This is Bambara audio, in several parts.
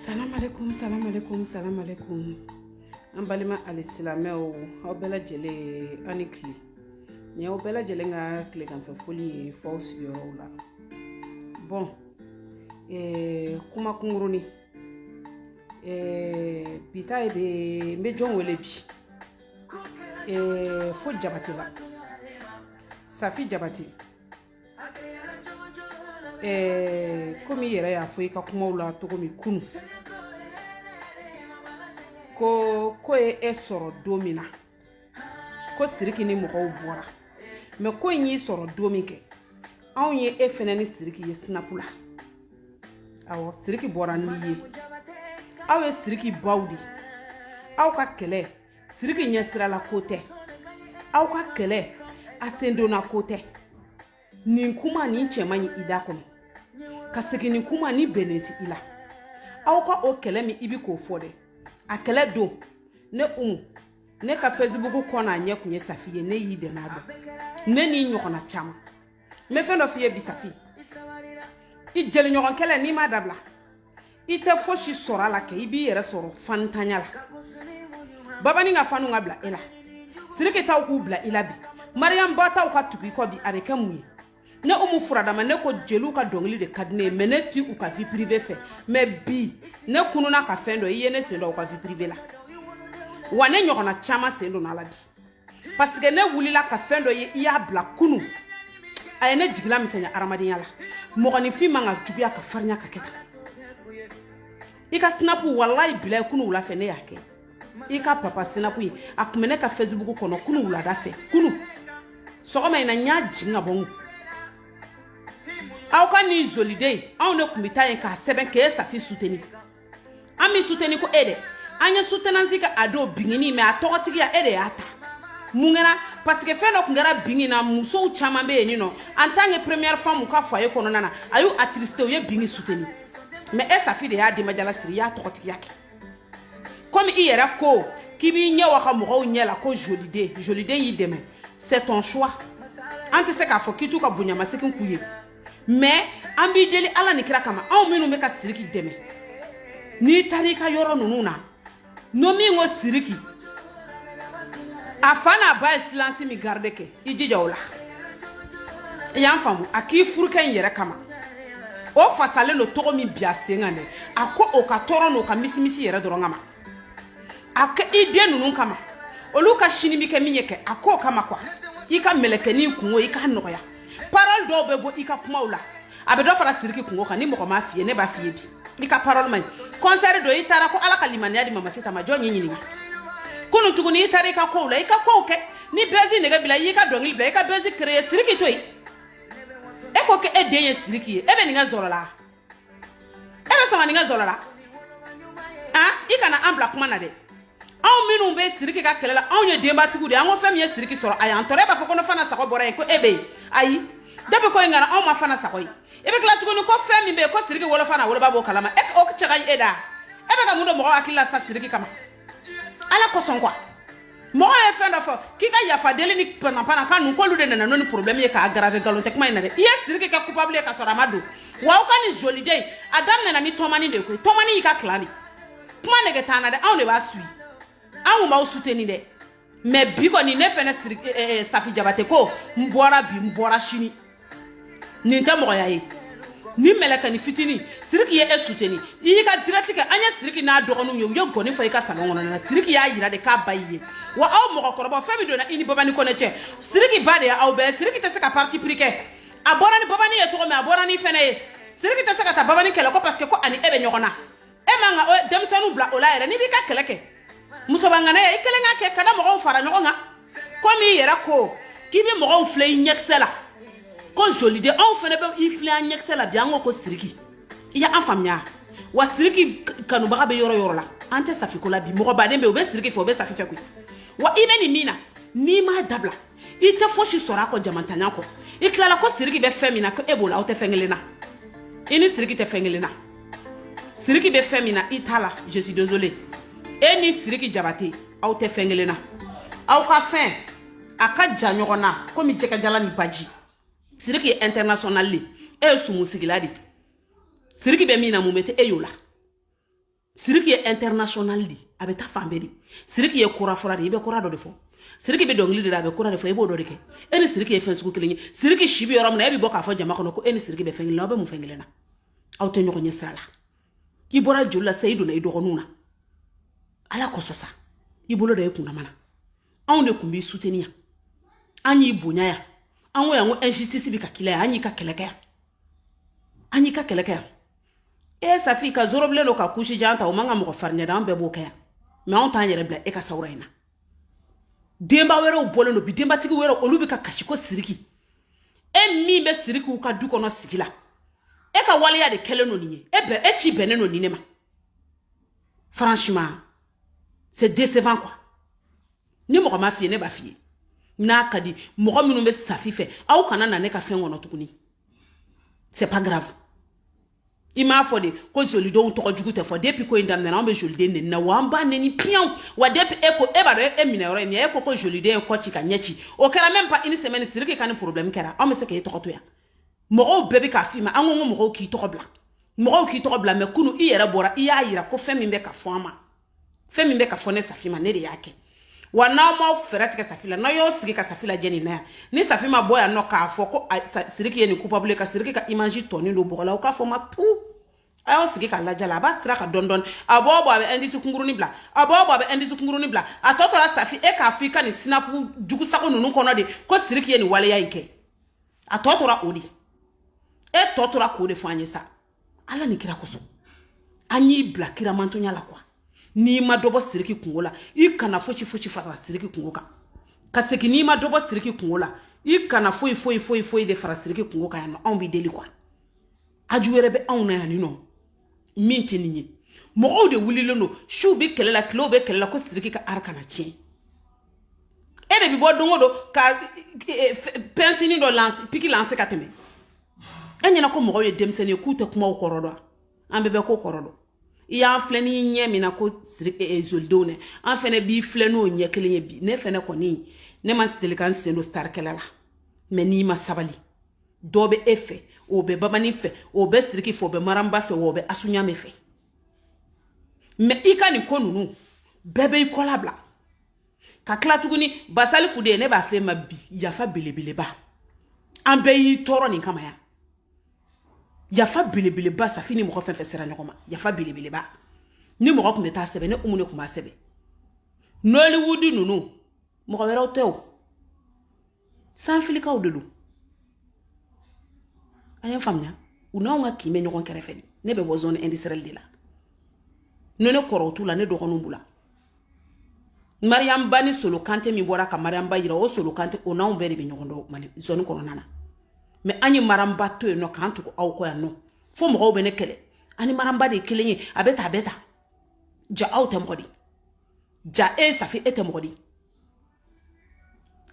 Salam alaikum, salam alaikum, salam alaikum. An balima alisilamɛw aw bɛɛ lajɛlen a ni kile nin y'aw bɛɛ lajɛlen ka kileganfɛ foli ye fo aw sigiyɔrɔw la bon eh, kuma kunkuruni eh, bi ta ye bɛ n bɛ jɔn wele bi eh, fo jabatela safi jabate komi i yɛrɛ y'a fɔ i ka kumaw la cogo min kunu ko ko ye e sɔrɔ don min na ko siriki ni mɔgɔw bɔra mɛ ko in y'i sɔrɔ don min kɛ anw ye e fɛnɛ ni siriki ye sinapu la awɔ siriki bɔra n'i ye aw ye siriki baw de aw ka kɛlɛ siriki ɲɛsira la ko tɛ aw ka kɛlɛ a sendonna ko tɛ nin kuma nin cɛ man ɲi i da kɔnɔ ka segin nin kuma ni bɛnnen tɛ i la aw ka o kɛlɛ min i bi k'o fɔ dɛ a kɛlɛ don ne umu ne ka fesibuku kɔ n'a ɲɛ kun ye safi ye ne y'i dɛmɛ a don ne n'i ɲɔgɔnna caman n bɛ fɛn dɔ f'i ye bi safi i jeliɲɔgɔn kɛlɛ n'i m'a dabila i tɛ fosi sɔrɔ a la kɛ i b'i yɛrɛ sɔrɔ fantanya la babani ka fanw ka bila e la siriki taw k'u bila i la bi mariyamu ba taw ka tugu i kɔ bi a bɛ kɛ mun ye ne umu furadama ne ko jeliw ka dɔnkili de ka di ne ye mɛ ne ti u ka vie privée fɛ mɛ bi ne kununna ka fɛn dɔ i ye ne sen don u ka vie privée la wa ne ɲɔgɔnna caman sen donna a la bi parce que ne wulila ka fɛn dɔ ye i y'a bila kunu a ye ne jigilamisɛnya adamadenya la mɔgɔninfin man ka juguya ka farinya ka kɛ tan i ka sinapu walayi bilayi kunu wula fɛ ne y'a kɛ i ka papa sinapu ye a kun bɛ ne ka fesibuku kɔnɔ kunu wulada fɛ kunu sɔgɔma in na n y'a jigin ka bɔ n kun aw ka nin zoliden anw ne kun bɛ taa yen k'a sɛbɛn k'e safi suteni an m'i suteni ko e de an ye sutenansi kɛ a don bingini mɛ a tɔgɔtigiya e de y'a ta mun kɛra parce que fɛn dɔ kun kɛra bingi na musow caman bɛ yen nin nɔ en tant que première femme u ka foyer kɔnɔna na a y'u attristé u ye bingi suteni mɛ e safi de y'a denbajala siri i y'a tɔgɔtigiya kɛ komi i yɛrɛ ko k'i b'i ɲɛ waga mɔgɔw ɲɛ la ko joliden joliden y'i dɛmɛ c'est ton choix an tɛ se k'a fɔ k'i t'u ka bonyamasegin k'u ye mɛ an b'i deli ala ni kira kama anw minnu bɛ ka siriki dɛmɛ n'i taara i ka yɔrɔ ninnu na n'o min ko siriki a fa n'a ba ye silansi min garide kɛ i jija o la i y'an faamu a k'i furukɛ in yɛrɛ kama o fasalen don cogo min bi a sen kan dɛ a k'o ka tɔɔrɔ n'o ka misimisi yɛrɛ dɔrɔn kama a kɛ i den ninnu kama olu ka sini bi kɛ min ye kɛ a k'o kama quoi i ka mɛlɛkɛnin kunko i k'a nɔgɔya parole dɔw bɛ bɔ i ka kumaw la a bɛ dɔ fara siriki kungo kan ni mɔgɔ m'a f'i ye ne b'a f'i ye bi i ka parole man ɲi concert don i taara ko ala ka limaniya di mamasita ma jɔn ye ɲininka kunu tuguni i taara i ka kow la i ka kow kɛ ni buzz nege b'i la y'i ka dɔnkili bila i ka buzz créer siriki to yen e ko k'e den ye siriki ye e bɛ nin kɛ zɔlɔ la e bɛ sɔn ka nin kɛ zɔlɔ la ah i kana an bila kuma na dɛ anw minnu bɛ siriki ka kɛlɛ la anw ye denbatigiw de ye an ko fɛn min ye siriki sɔrɔ a y'an tɔɔrɔ e b'a fɔ ko ne fana sago bɔra yen ko e bɛ yen ayi depuis ko in kana anw ma fana sago ye i bɛ tila tuguni ko fɛn min bɛ yen ko siriki wolofa n'a woloba b'o kalama e o cɛ ka ɲi e da e bɛ ka mun don mɔgɔ hakili la sa siriki kama ala kosɔn quoi mɔgɔ ye fɛn dɔ fɔ k'i ka yafa deli ni panapana kan ninnu k'olu de nana n'o ni problème ye k'a aggraver nkalon tɛ kuma in na dɛ i ye siriki kɛ coupable ye ka sɔrɔ a ma don wa aw ka nin joliden a daminɛna ni tɔmani de ye koyi tɔmani y'i ka clan de kuma nege t'an na dɛ anw de b'a suivi anw kun b'aw soutenir dɛ mais bi kɔni ne fɛnɛ siri eh, eh, eh, safi jabate ko n bɔra bi n bɔra sini nin tɛ mɔgɔya ye ni mɛlɛkɛni fitini siriki ye e soutenir i y'i ka direct kɛ an ye siriki n'a dɔgɔninw ye u ye gɔni fɔ i ka salon kɔnɔna na siriki y'a yira de k'a ba y'i ye wa aw mɔgɔkɔrɔbaw fɛn min donna i ni babani kɔnɛ cɛ siriki ba de ye aw bɛɛ siriki tɛ se ka parti pris kɛ a bɔra ni babani ye cogo min a bɔra n'i fɛnɛ ye siriki tɛ se ka taa babani kɛlɛ ko parce que ko a ni e bɛ ɲɔgɔn na e man ka denmisɛnninw bila o la yɛrɛ n'i b'i ka kɛlɛ kɛ musoba ŋana ye i kelen k'a kɛ kana mɔgɔw fara ɲɔgɔn kan komi i yɛrɛ ko k'i bɛ mɔgɔw filɛ i ɲɛkisɛ la ko joliden anw fɛnɛ bɛ i filɛ an ɲɛkisɛ la bi an ko ko siriki i y'an faamuya wa siriki kanubaga bɛ yɔrɔ yɔrɔ la an tɛ safi ko la bi mɔgɔ baden bɛ yen o bɛ siriki fɛ o bɛ safi fɛ koyi wa i bɛ nin min na n'i m'a dabila i tɛ fosi sɔrɔ a kɔ jamantanya kɔ i tilala ko siriki bɛ fɛn min na ko e b'o la aw tɛ fɛn kelen na i ni siriki tɛ fɛn kelen na siriki bɛ fɛn min na i t'a la je suis désolé e ni siriki jabate aw tɛ fɛn kelen na aw ka fɛn a ka jan ɲɔgɔn na komi jɛgɛjalan ni baji siriki ye international de e ye sumusigila de siriki bɛ min na mun bɛ tɛ e y'o la siriki ye international de a bɛ taa fan bɛɛ de siriki ye kora fɔra de i bɛ kora dɔ de fɔ siriki bɛ dɔnkili de la a bɛ kora de fɔ i b'o dɔ de kɛ e ni siriki ye fɛn sugu kelen ye siriki si bɛ yɔrɔ min na e bɛ bɔ k'a fɔ jama kɔnɔ ko e ni siriki bɛ fɛn kelen na aw bɛ mun fɛn kelen na aw tɛ ɲɔgɔn ɲɛ sira la i bɔra joli la sa i donna i dɔgɔninw na ala kosɔn sa i bolo da i kundama na anw de tun b'i soutenir yan an y'i bonya yan an ko yan ko injustice bɛ ka k'i la yan an y'i ka kɛlɛ kɛ yan an y'i ka kɛlɛ kɛ yan e safi ka zorobilen don ka kusi jan ta o man ka mɔgɔ farinya da an bɛɛ b'o kɛ yan mais anw t'an yɛrɛ bila e ka sawura in na denba wɛrɛw bɔlen don bi denbatigi wɛrɛw olu bɛ ka kasi ko siriki e min bɛ sirikiw ka du kɔnɔ sigi la e ka waleya de kɛlen don nin ye e bɛ e ci bɛnnen don nin ne ma franchement c'est décevant quoi ni mɔgɔ ma f'i ye ne b'a f'i ye n'a ka di mɔgɔ minnu bɛ safi fɛ aw kana na ne ka fɛn kɔnɔ tuguni c'est pas grave i m'a fɔ de ko jolidenw tɔgɔ jugu tɛ fɔ depuis ko in daminɛna anw bɛ joliden neni na wa an b'a neni piyan wa depuis e ko e b'a dɔn e minɛ yɔrɔ ye min ye e ko ko joliden ye kɔ ci ka ɲɛ ci o kɛra même pas une semaine siriki ka nin problème kɛra anw bɛ se k'e tɔgɔ to yan mɔgɔw bɛɛ bɛ k'a f'i ma an ko ko mɔgɔw k'i tɔgɔ bila mɔgɔw k'i tɔgɔ bila mais kunu i yɛrɛ bɔra i y'a yira ko fɛn min bɛ ka fɔ an ma fɛn min bɛ ka fɔ ne safi ma ne de y'a kɛ wa n'aw m'aw fɛɛrɛ tigɛ safi la n'aw y'aw sigi ka safi lajɛ nin na yan ni safi ma bɔ yan nɔ k'a fɔ ko siriki ye nin coupable ye ka siriki ka image tɔnin don bɔgɔ la o k'a fɔ n ma pu a y'aw sigi k'a lajɛ la a b'a sira ka dɔn dɔn a bɛ bɔ a bɛ indice kunkurunin bila a bɛ bɔ a bɛ indice kunkurunin bila a tɔ tora safi e k'a fɔ i ka nin sinapu jugu sago ninnu kɔnɔ de ko siriki ye nin waleya in kɛ a tɔ tora o de e tɔ tora k'o de fɔ an ye sa ala ni kira kosɔn an y'i bila kira mantɔnya la quoi n'i ma dɔ bɔ siriki kunko la i kana fosi fosi fara siriki kunko kan ka segin n'i ma dɔ bɔ siriki kunko la i kana foyi foyi foyi foyi de fara siriki kunko kan yan nɔ anw b'i deli quoi haju wɛrɛ bɛ anw na yan nin nɔ min tɛ nin ye mɔgɔw de wulilen don suw bɛ kɛlɛ la tilew bɛ kɛlɛ la ko siriki ka art kana tiɲɛ e de bɛ bɔ don o don ka e, pɛnsini dɔ lanse piki lanse ka tɛmɛ e ɲɛna ko mɔgɔw ye denmisɛnnin ye k'u tɛ kumaw kɔrɔ dɔn an bɛɛ bɛ ko kɔrɔ dɔn i y'an filɛ ni ɲɛ min na ko zolidenw dɛ an fɛnɛ b'i filɛ n'o ɲɛ kelen ye bi ne fɛnɛ kɔni ne ma deli ka n sen don star kɛlɛ la mais n'i ma sabali dɔ bɛ e fɛ o bɛ babani fɛ o bɛ siriki fɛ o bɛ mariam ba fɛ wa o bɛ asu ɲamɛ fɛ mais i ka nin ko ninnu bɛɛ bɛ i kɔla bila ka tila tuguni basali fude ne b'a f'e ma bi yafa belebeleba an bɛɛ y'i tɔɔrɔ nin kama yan yafa belebeleba safi ni mɔgɔ fɛn fɛn sera ɲɔgɔn ma yafa belebeleba ni mɔgɔ tun bɛ taa sɛbɛn ne umu ne tun b'a sɛbɛn nollywood ninnu mɔgɔ wɛrɛw tɛ o sanfilikaw de don an y'a faamuya u n'anw ka kin bɛ ɲɔgɔn kɛrɛfɛ de ne bɛ bɔ zone industrielle de la ne ne kɔrɔw t'u la ne dɔgɔninw b'u la mariam ba ni solo kante min bɔra ka mariam ba yira o solo kante o n'anw bɛɛ de bɛ ɲɔgɔn dɔn mali zone kɔnɔna na mais an ye mariam ba to yen nɔ k'an tugu aw kɔ yan nɔ fo mɔgɔw bɛ ne kɛlɛ an ni mariam ba de ye kelen ye a bɛ ta a bɛ ta ja aw tɛ mɔgɔ di ja e safi e tɛ mɔgɔ di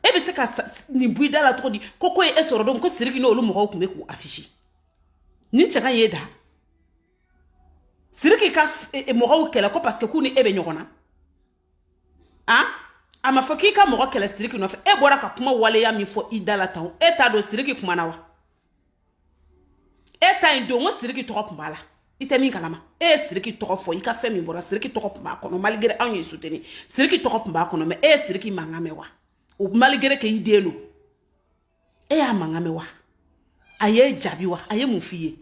e bɛ se ka nin bɔ i da la cogo di ko ko ye e sɔrɔ don ko siriki n'olu mɔgɔw tun bɛ k'u afficher nin cɛ ka y'e da siriki ka e, e, mɔgɔw kɛlɛ ko parce que k'u ni e bɛ ɲɔgɔn na an a ma fɔ k'i ka mɔgɔ kɛlɛ siriki nɔfɛ e bɔra ka kuma waleya min fɔ i da la tan e t'a dɔn siriki kuma na wa e ta in don ko siriki tɔgɔ tun b'a la i tɛ min kalama e ye siriki tɔgɔ fɔ i ka fɛn min bɔra siriki tɔgɔ tun b'a kɔnɔ malgré anw y'i soutenir siriki tɔgɔ tun b'a kɔnɔ mais e ye siriki mankan mɛn wa o malgré que i den don e y'a mankan mɛn wa a ye jaabi wa a ye mun f'i ye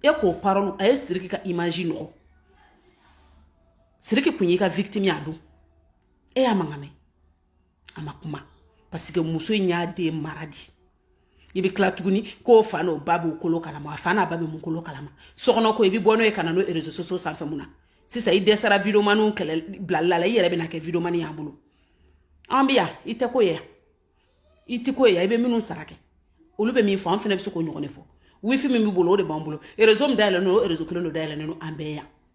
e k'o parole a ye siriki ka image nɔgɔ siriki kun y'i ka victime y'a don e y'a mankan mɛn a ma kuma parce que muso in y'a den mara di i bɛ tila tuguni k'o fa n'o ba b'o kolo kalama a fa n'a ba bɛ mun kolo kalama sokɔnɔ ko i bɛ bɔ n'o ye ka na n'o réseaux sociaux sanfɛ mun na sisan i dɛsɛra videomaniw kɛlɛ bilali la i yɛrɛ bɛna kɛ videomani y'an bolo an bɛ yan i tɛ ko ye yan i tɛ ko ye yan i bɛ minnu sara kɛ olu bɛ min fɔ an fana bɛ se k'o ɲɔgɔn de fɔ wifi min b'i bolo o de b'an bolo réseau min dayɛlɛlen don o réseau kelen don dayɛlɛlen don an bɛɛ yan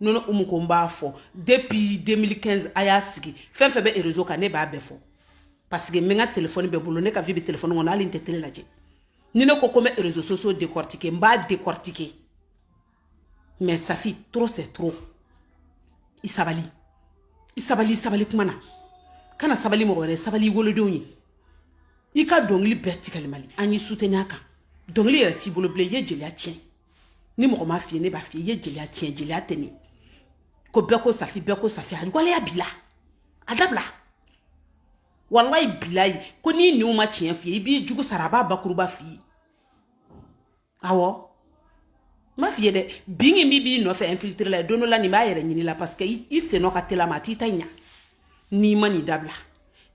non non umu ko n b'a fɔ depuis 2015 a y'a sigi fɛn o fɛn bɛ réseau kan ne b'a bɛɛ fɔ parce que n bɛ n ka telefɔni bɛ n bolo ne ka vie bɛ telefɔni kɔnɔ hali n tɛ tele lajɛ ni ne ko ko n bɛ réseaux sociaux décortiquer n b'a décortiquer mais safi trop c'est trop i sabali i sabali i sabali kuma na kana sabali mɔgɔ wɛrɛ sabali i wolodenw ye i ka dɔnkili bɛɛ tigɛli mali an y'i soutenir a kan dɔnkili yɛrɛ t'i bolo bilen i ye jeliya tiɲɛ ni mɔgɔ m'a f'i ye ne b'a f'i ye i ye jeliya tiɲɛ jeliya tɛ ne ko bɛɛ ko safi bɛɛ ko safi a waleya bila a dabila walayi bilayi ko n'i ɲin ma tiɲɛ f'i ye i b'i jugu sara a b'a bakuruba f'i ye awɔ n b'a f'i ye dɛ bin min b'i nɔfɛ infiltrer la don dɔ la nin b'a yɛrɛ ɲini la parce que i sennɔ ka tel'a ma a t'i ta ɲa n'i ma nin dabila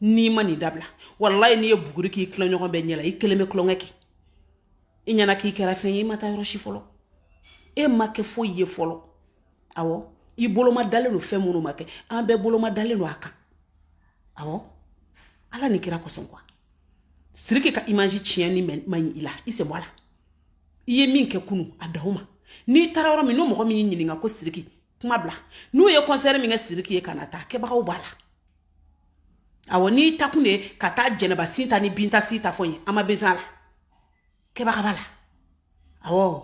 n'i ma nin dabila walayi n'i ye buguri k'i tilaɲɔgɔn bɛɛ ɲɛ la i kelen bɛ tulonkɛ kɛ i ɲɛna k'i kɛra fɛn ye i ma taa yɔrɔ si fɔlɔ e ma kɛ foyi ye fɔlɔ awɔ i boloma dalen don fɛn minnu ma kɛ an bɛɛ boloma dalen don a kan awɔ ala ni kira kosɔn quoi siriki ka image tiɲɛni man ɲi i la i sen bɔ a la i ye min kɛ kunu a daw ma n'i taara yɔrɔ min n'o mɔgɔ min y'i ɲininka ko siriki kuma bila n'u ye concert min kɛ siriki ye kana taa kɛbagaw b'a la awɔ n'i taakun de ka taa jɛnɛba sin ta ni binta si ta fɔ yen an ma besoin a la kɛbaga b'a la awɔ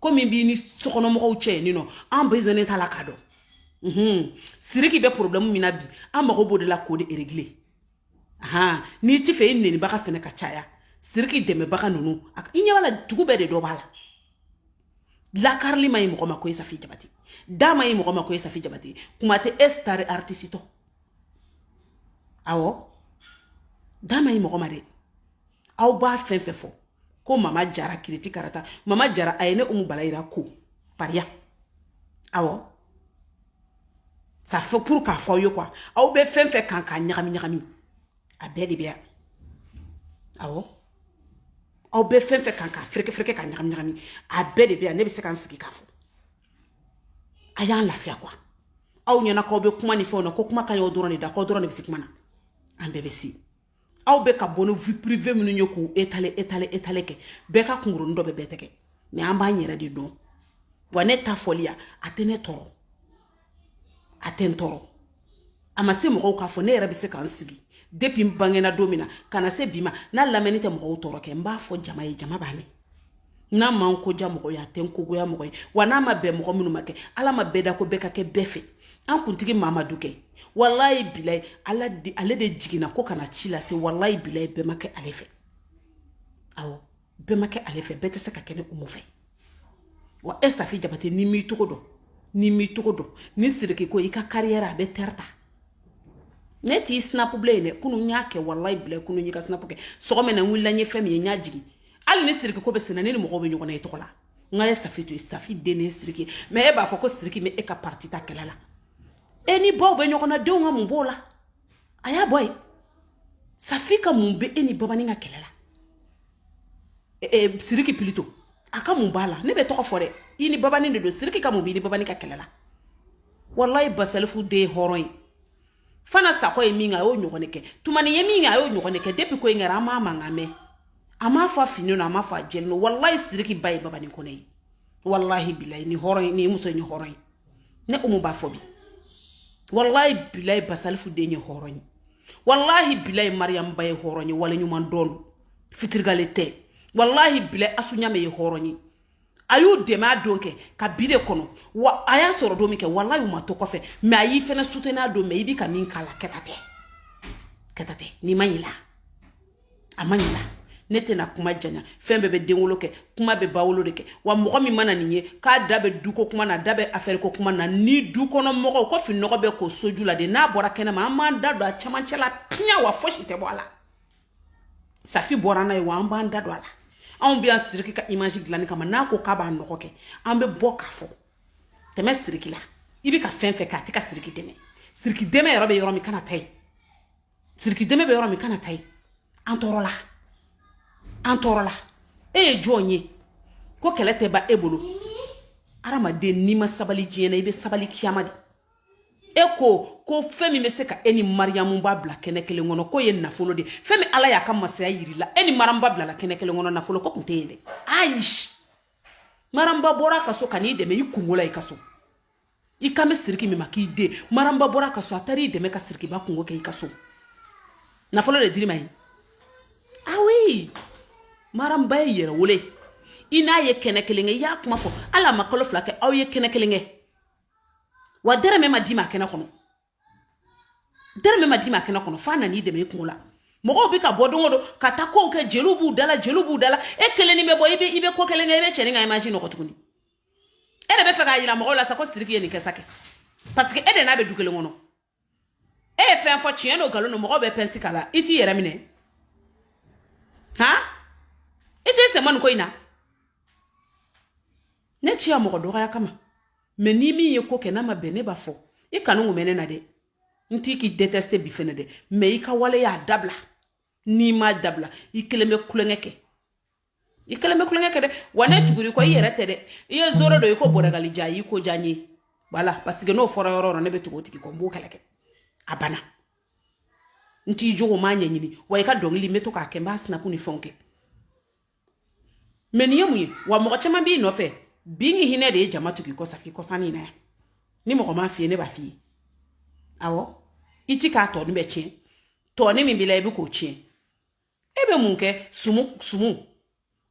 ko min b'i ni sokɔnɔmɔgɔw cɛ yen nɔ an besoinnen t'a la k'a dɔn mhm. siriki bɛ problème min na bi an mago b'o de la k'o de régler ahan n'i t'a fɛ i nenibaga fɛnɛ ka caya siriki dɛmɛbaga ninnu i ɲɛ b'a la dugu bɛɛ de dɔ b'a la lakarili ma ɲi mɔgɔ ma ko ye safi jabate da ma ɲi mɔgɔ ma ko ye safi jabate kuma tɛ e star artiste tɔ awɔ da ma ɲi mɔgɔ ma dɛ aw b'a fɛn fɛn fɔ ko mama jara kiriti karata mama jara a ye ne umu balayira ko pariya awɔ ça fait pour k'a fɔ aw ye quoi aw bɛ fɛn fɛn kan k'a ɲagami ɲagami a bɛɛ de bɛ yan awɔ aw bɛ fɛn fɛn kan k'a fereke fereke k'a ɲagami ɲagami a bɛɛ de bɛ yan ne bɛ se ka n sigi k'a fɔ a y'an lafiya quoi aw ɲɛna k'aw bɛ kuma ni fɛnw na ko kuma ka ɲi aw dɔrɔn de da k'aw dɔrɔn de bɛ se kuma na an bɛɛ bɛ se aw bɛ ka bɔ ni vie privée minnu ye k'u étaler étaler étaler kɛ bɛɛ ka kunkurunin dɔ bɛ bɛɛ tɛgɛ mɛ an b'an yɛrɛ de dɔn wa ne ta fɔli ya a tɛ ne tɔɔrɔ a tɛ n tɔɔrɔ a ma se mɔgɔw k'a fɔ ne yɛrɛ bɛ se ka n sigi depi n bangena don min na ka na se bi ma n'a lamɛnni tɛ mɔgɔw tɔɔrɔ kɛ n b'a fɔ jama ye jama b'a mɛn n'a ma n ko diya mɔgɔ ye a tɛ n ko goya mɔgɔ ye wa n'a ma bɛn mɔgɔ minnu ma kɛ ala ma bɛɛ da ko bɛɛ ka kɛ bɛɛ fɛ an kuntigi mamadu kɛ walayi bilayi ala ale de jiginna ko ka na ci lase walayi bilayi bɛɛ ma kɛ ale fɛ awɔ bɛɛ ma kɛ ale fɛ bɛɛ tɛ se ka kɛ ne umu fɛ wa e safi jabate n'i m'i cogo dɔn n'i m'i cogo dɔn ni siriki ko i ka kariyɛrɛ a bɛ tɛrɛ ta ne t'i sinapu bilen dɛ kunu n y'a kɛ walayi bilayi kunu n y'i ka sinapu kɛ sɔgɔma na n wulila n ye fɛn min ye n y'a jigin hali ni siriki ko bɛ senna ne ni mɔgɔw bɛ ɲɔgɔn na i tɔgɔ la n k'a ye safi to yen safi den ne siriki mɛ e b'a fɔ ko siriki bɛ e ka pariti ta kɛlɛ la e ni baw bɛ ɲɔgɔn na denw ka mun b'o la a y'a bɔ yen safi ka mun bɛ e ni babanin ka kɛlɛ la e, e, siriki pilito a ka mun b'a la ne bɛ tɔgɔ fɔ dɛ i ni babanin de don siriki ka mun b'i ni babanin ka kɛlɛ la walayi basalifu den ye hɔrɔn ye fanta sakɔ ye min kɛ a y'o ɲɔgɔn de kɛ tumani ye min kɛ a y'o ɲɔgɔn de kɛ depi ko in kɛra an m'a mankan mɛn a m'a fɔ a finnen don a m'a fɔ a jɛlen don walayi siriki ba ye babanin kɔnɛ ye walahi bilayi nin hɔrɔn ye nin muso ye nin hɔrɔn ye ne umu b'a fɔ bi walayi bilayi basalifu den ye hɔrɔn ye walahi bilayi mariyamu ba ye hɔrɔn ye waleɲuman dɔn fitirigale tɛ walahi bilayi asu ɲame ye hɔrɔn ye a y'u dɛmɛ a don kɛ ka bi de kɔnɔ wa a y'a sɔrɔ don min kɛ walayi u ma to kɔfɛ mɛ a y'i fɛnɛ suteni a don mɛ i bi ka min k'a la kɛta tɛ kɛta tɛ n'i ma ɲina a ma ɲina ne tɛna kuma janya fɛn bɛɛ bɛ denwolo kɛ kuma bɛ bawolo de kɛ wa mɔgɔ min mana nin ye k'a da bɛ duko kuma na da bɛ afɛri ko kuma na ni du kɔnɔ mɔgɔw ko fininɔgɔ bɛ ko soju la de n'a bɔra kɛnɛ ma an b'an da don a cɛmancɛ la piɲɛ wa fosi tɛ bɔ a la safi bɔra n'a ye wa an b'an da don a la anw bɛ yan siriki ka image dilanni kama n'a ko k'a b'a nɔgɔ kɛ an bɛ bɔ k'a fɔ tɛmɛ siriki la i bɛ ka fɛn fɛn kɛ a tɛ ka siriki dɛmɛ siriki dɛmɛ yɔrɔ bɛ yɔrɔ min kana ta yen siriki dɛmɛ bɛ yɔrɔ min kana taa yen an tɔɔrɔla an tɔɔrɔla e ye jɔn ye ko kɛlɛ tɛ ban e bolo adamaden n'i ma sabali diɲɛ na i bɛ sabali kiyama de e ko ko fɛn min bɛ se ka e ni mariyamu ba bila kɛnɛ kelen kɔnɔ k'o ye nafolo de fɛn min ala y'a ka masaya yiri la e ni mariyamu ba bilala kɛnɛ kelen kɔnɔ nafolo ko tun tɛ yen dɛ ayi mariyamu ba bɔra a ka so ka n'i dɛmɛ i kungo la i ka so i kan bɛ siriki min ma k'i den maramba bɔra ka so a taara i dɛmɛ ka sirikiba kungo kɛ i ka so nafolo de dir'i ma ye awi maramba y'i yɛrɛ wele i n'a ye kɛnɛ kelen kɛ i y'a kuma fɔ hali a ma kalo fila kɛ aw ye kɛnɛ kelen kɛ wa dɛrɛmɛ ma d'i ma kɛnɛ kɔnɔ dɛrɛmɛ ma d'i ma kɛnɛ kɔnɔ f'a nan'i dɛmɛ i kungo la mɔgɔw bɛ ka bɔ don o don ka taa kow kɛ jeliw b'u dala jeliw b'u dala e kelen n'i bɛ bɔ i bɛ i bɛ ko kelen kɛ i bɛ cɛnin ka imaji nɔgɔ tuguni e de bɛ fɛ k'a jira mɔgɔw la sa ko siriki ye nin kɛ sa kɛ parce que e de n'a bɛ du kelen kɔnɔ e ye fɛn fɔ tiɲɛ don nkalon don mɔgɔw bɛ pɛnsi k'a la i t'i yɛrɛ minɛ han i t'i sen bɔ nin ko in na ne tɛ sigi yan mɔgɔ dɔgɔya kama mɛ ni min ye ko kɛ n'a ma bɛn ne b'a fɔ i kanu kun bɛ ne na dɛ n tɛ k'i deteste bi fɛnɛ dɛ mɛ i ka waleya dabila n'i m'a dabila i kelen bɛ kulonkɛ kɛ i kelen bɛ kulonkɛ kɛ dɛ wa ne tugur'i kɔ i yɛrɛ tɛ dɛ i ye zoro dɔ i ko bɔrɛgali ja i ko ja n ye voilà parce que n'o fɔra yɔrɔ yɔrɔ ne bɛ tugu o tigi kɔ n b'o kɛlɛ kɛ a banna n t'i jogo m'a ɲɛɲini wa i ka dɔnkili n bɛ to k'a kɛ n b'a sinapu ni fɛnw kɛ mɛ nin ye mun ye wa mɔgɔ caman b'i nɔfɛ bi ni hinɛ de ye jama tug'i kɔ safi kɔsanni na yan ni mɔgɔ m'a f'i ye ne b'a f'i ye awɔ i tɛ ka tɔgɔnin bɛɛ tiɲɛ tɔgɔnin min b'i la i bɛ k'o tiɲɛ e bɛ mun kɛ sumu sumu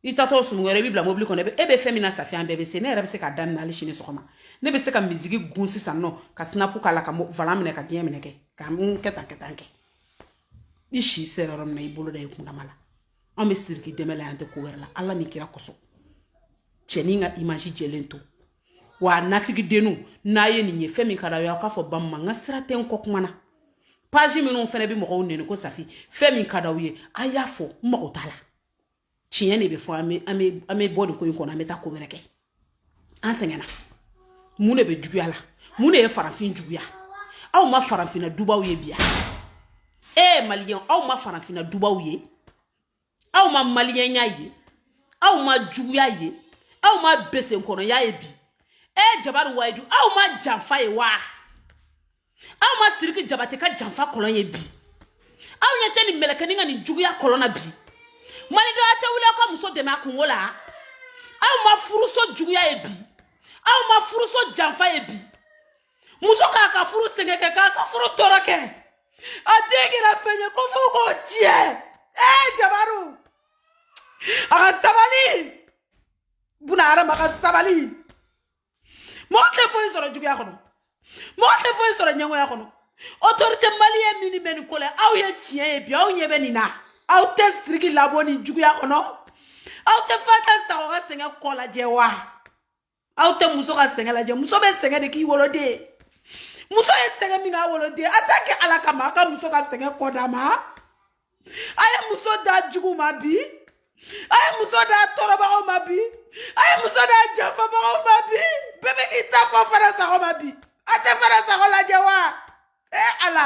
i taatɔ sumu wɛrɛ i bɛ bila mobili kɔnɔ e bɛ fɛn min na safi an bɛɛ bɛ se ne yɛrɛ bɛ se k'a daminɛ hali sini sɔgɔma ne bɛ se ka miziki gun sisan nɔ ka sinapu k'a la ka volan minɛ ka diɲɛ minɛ kɛ ka n kɛ tan kɛ tan kɛ i si sera yɔrɔ min na i bolo da i kundama la an bɛ siriki dɛmɛ la an tɛ ko wɛrɛ la ala ni kira kosɔn cɛnin ka image jɛlen to wa nafigidenninw n'a ye nin ye fɛn min ka d'a ye aw k'a fɔ ba ma n ka sira tɛ n kɔkuma na page minnu fana bɛ mɔgɔw nɛni ko safi fɛn min ka d'aw ye a y'a fɔ n mago t'a la tiɲɛ de bɛ fɔ an bɛ an bɛ an bɛ bɔ nin ko in kɔnɔ an bɛ taa ko wɛrɛ kɛ an sɛgɛnna mun de bɛ juguya la mun de ye farafin juguya aw ma farafinna dubaw ye bi wa e eh, maliyɛn aw ma farafinna dubaw ye aw ma maliyɛnya ye aw ma juguya ye aw ma besenkɔnɔya ye bi e eh, jabaru wayidu aw ma janfa ye wa aw ma siriki jabate ka janfa kolon ye bi aw ɲɛ tɛ nin mɛlɛkɛni ka nijuguya kolon na bi malidenw a tɛ wuli aw ka muso dɛmɛ a kunko la aw ma furuso juguya ye bi aw ma furuso janfa ye bi muso k'a ka furu sɛgɛn kɛ k'a ka furu tɔɔrɔ kɛ a den kɛra fɛn ye ko fo k'o tiɲɛ ee jabaru a ka sabali buna hadama ka sabali mɔgɔ tɛ foyi sɔrɔ juguya kɔnɔ mɔgɔ tɛ foyi sɔrɔ ɲɛngoya kɔnɔ autorité maliyɛn minnu bɛ nin ko la aw ye tiɲɛ ye bi aw ɲɛ bɛ nin na aw tɛ siriki labɔ nin juguya kɔnɔ aw tɛ fanta sago ka sɛgɛn kɔ lajɛ wa aw tɛ muso ka sɛgɛn lajɛ muso bɛ sɛgɛn de k'i wolo dɛ muso ye sɛgɛn min k'a wolo dɛ a t'a kɛ ala kama a ka muso ka sɛgɛn kɔ d'a ma a ye muso da jugu ma bi a ye muso da tɔɔrɔbagaw ma bi a ye muso da janfabagaw ma bi bɛɛ bɛ k'i ta fɔ fanta sago ma bi a tɛ fanta sago lajɛ wa ee ala